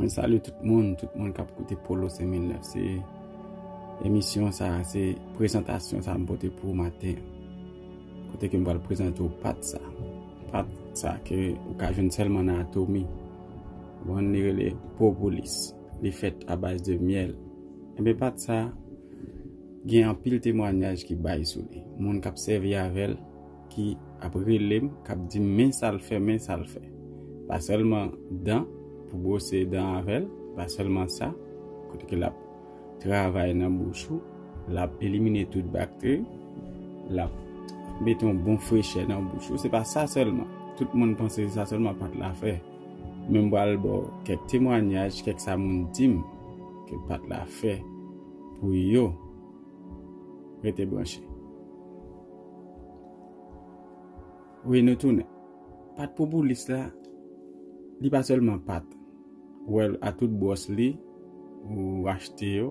Mwen salye tout moun, tout moun kap koute Polo Seminle. Se emisyon sa, se prezantasyon sa mpote pou maten. Kote ke mbal prezante ou pat sa. Pat sa ke ou ka jwenn selman nan atomi. Mwen li rele propolis. Li fet a baz de miel. Enbe pat sa, gen anpil temwanyaj ki bay sou li. Moun kap sevi avel. ki ap rele m kap di m men sa l fè men sa l fè pa sèlman dan pou bwose dan avè l pa sèlman sa kote ke lap travay nan bouch ou lap elimine tout bakteri lap mete yon bon frechè nan bouch ou se pa sa sèlman tout moun panse se sa sèlman pat la fè men m pral ba w kèk temwanyaj kèk sa moun di m ke pat la fè pou yo rete branche. Wi nou tounen. Pat pou boulis la, li pa sèlman pat. Wèl a tout bwòs li, ou achte yo,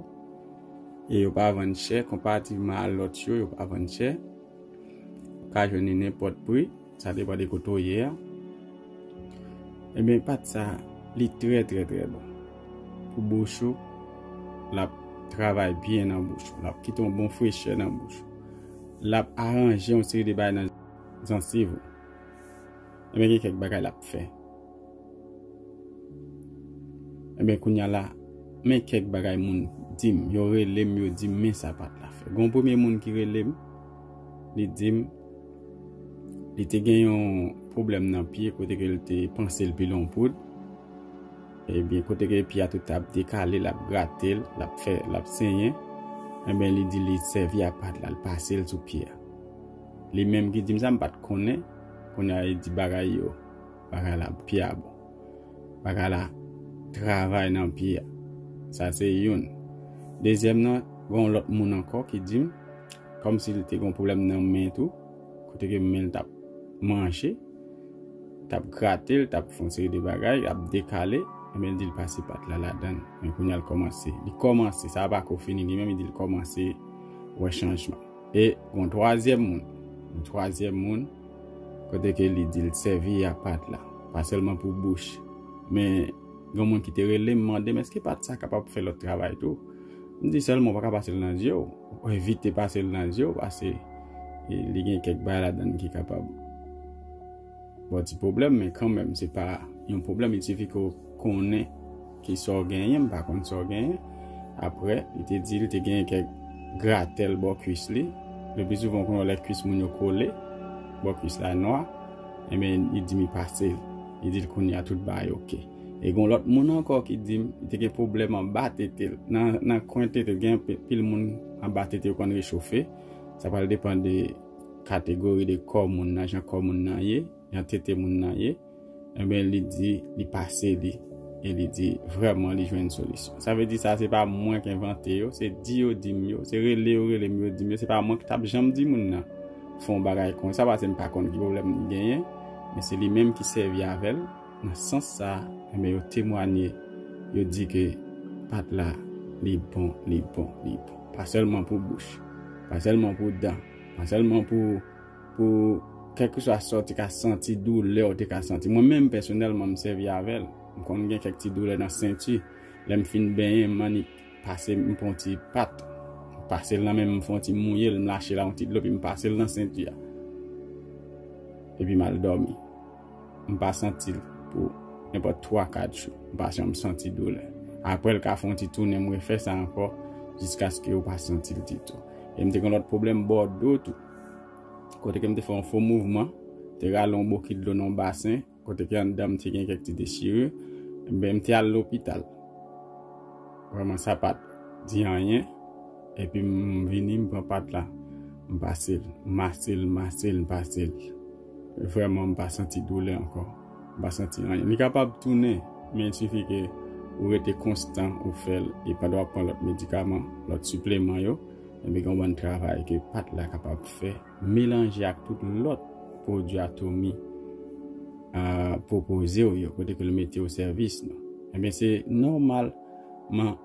e yo pa vann chè, konparativman a lòt yo, yo pa vann chè. Ou ka jwenn li nenpòt pri. Sa depan de kote ou ye a. E ben pat sa li trè trè trè bon. Pou bouch ou lap travay byen nan bouch ou. Lap kite yon bon frechè nan bouch ou. Lap aranje yon seri de bagay nan jansiv ou. E ben gen kèk bagay lap fè. E ben kounye a la men kèk bagay moun dim. Yo relem yo dim men sa pat la fè. Gon premye moun ki relem. Li di m li te gen yon pwoblèm nan pye kote ke li te panse li pile yon poud. Ebyen kote ke pye a tout ap dekale, l ap grate l, l ap fè, l ap senyen. Enben li di li sèvi ak pat la, li pase l sou pye a. Li menm ki di m sa, m pa t konnen. Kounye a li di bagay yo, bagay la pye a bon. Bagay la travay nan pye a. Sa se youn. Dezyèm nan, gen yon lòt moun ankò ki di m Kòmsi li te gen yon pwoblèm nan men l tou, kote ke men l t ap manje, t ap grate l, t ap fè yon seri de bagay, li ap dekale, men l di l pase pat la ladan l. Men kounye a l kòmanse, li kòmanse, sa a pa ko fini, li menm li di l kòmanse wè chanjman. E gen yon twazyèm moun, yon twazyèm moun, kote ke li di l sèvi a pat la, pa sèlman pou bouch, men. Gen moun ki te rele m mande m èske pa t sa kapab fè lòt travay tou. M di sèlman ou pa ka pase l nan zye w. Ou evite pase l nan zye w pase li gen kèk bagay ladan l ki kapab ba w ti pwoblèm men kanmenm se pa yon pwoblèm. Il sifi ke w konnen ki sa w genyen. M pa konn sa w genyen. Apre li te di li te genyen kèk gratèl bò kuis li. Lepli souvan ou konnen lè kuis moun yo kole, bò kuis la nwa. Enben li di m li pase l. Li di l kounye a tout bagay ok. E gon lòt moun ankò ki di m li te gen pwoblèm anba tete l. Nan kwen tete l gen anpil moun anba tete yo konn rechofe. Sa pral depan de kategori de kò moun nan, jan kò moun nan ye, jan tete moun nan ye. Enben li di li pase li e li di vrèman li jwenn solisyon. Sa vle di sa se pa mwen k envante yo, se di yo di m yo, se rele yo rele m yo di m yo, se pa mwen ki t ap janm di moun nan. fè yon bagay konsa pase m pa konn ki pwoblèm li genyen, men se li menm ki sèvi avè l nan sans sa a, enben yo temwanye, yo di ke pat la li bon, li bon, li bon. Pa sèlman pou bouch, pa sèlman pou dan, pa sèlman pou pou kèlkeswa sa w te ka santi, doulè w te ka santi. Mwen menm pèsonèlman m sèvi avè l, m konn gen kèk ti doulè nan senti, lè m fin benyen m annik. Pase m pran yon ti pat. M pase l nan men m, m fè yon ti mouye l, m lache la yon ti dlo epi m pase l nan senti a. Epi m al dòmi. M pa santi l pou nenpòt twa, kat jou. M pa janm santi doulè. Aprè l ka fè yon ti tounen m refè sa ankò jiskaske ou pa santi l ditou. E m te gen yon lòt pwoblèm bò do tou. Kote ke m te fè yon fo mouvman, m te rale yon bokit dlo nan yon basen. Kote ke anndan m te gen kèk ti dechire, enben m te al lopital. Vrèman sa pa t di anyen, epi m vini m pran pat la, m pase l, m mase l, m mase l, m pase l. Vrèman m pa santi doulè ankò, m pa santi anyen. Li kapab tounen, men il sifi ke ou rete konstan, ou fè l, e pandan w ap pran lòt medikaman, lòt sipleman yo, enben gen yon bann travay ke pat la kapab fè. Melanje ak tout lòt pwodui Atomy pwopoze w yo, kote ke l mete o sèvis nou. Enben, se nòmal man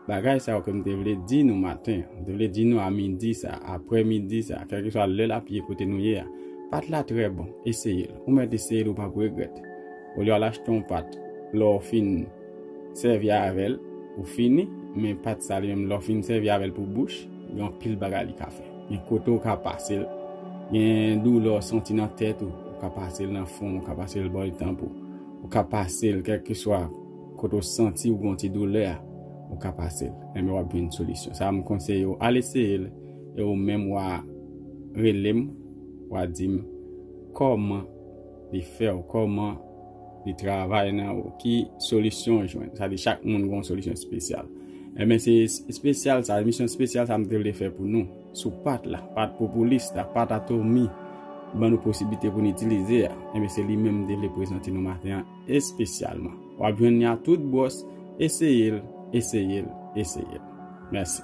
bagay sa yo ke m te vle di nou maten an, m te vle di nou a midi sa a, apre midi sa a, kèlkeswa lè l ap ye kote nou ye a. Pat la trè bon. Eseye l. Ou mèt eseye l, ou p ap regrèt. Olye w al achte yon pat, lè w fin. Sèvi avèl ou fini men pat sal yo menm lè ou fin sèvi avèl pou bouch gen anpil bagay li ka fè gen kote ou ka pasel gen doulè ou santi nan tèt ou ou ka pasel nan fon ou ka pasel bò etanp ou ou ka pasel kèlkeswa kote ou santi ou gon ti doulè a ou ka pasel enben wap jwenn solisyon sa m konseye ou al eseyel e ou menm wa relem wa dim kòman li fèw kòman Li travay nan ou. Ki solisyon ou jwenn? Sa di chak moun gen yon solisyon espesyal. Enben se espesyal sa, emisyon espesyal sa m te vle fè pou nou. Sou pat la, pat popilis la, pat atomi ban nou posiblite pou nou itilize a. Enben se li menm m te vle prezante nou maten an espesyalman. W ap jwenn li a tout bwòs, eseye l, eseye l, eseye l. Mèsi.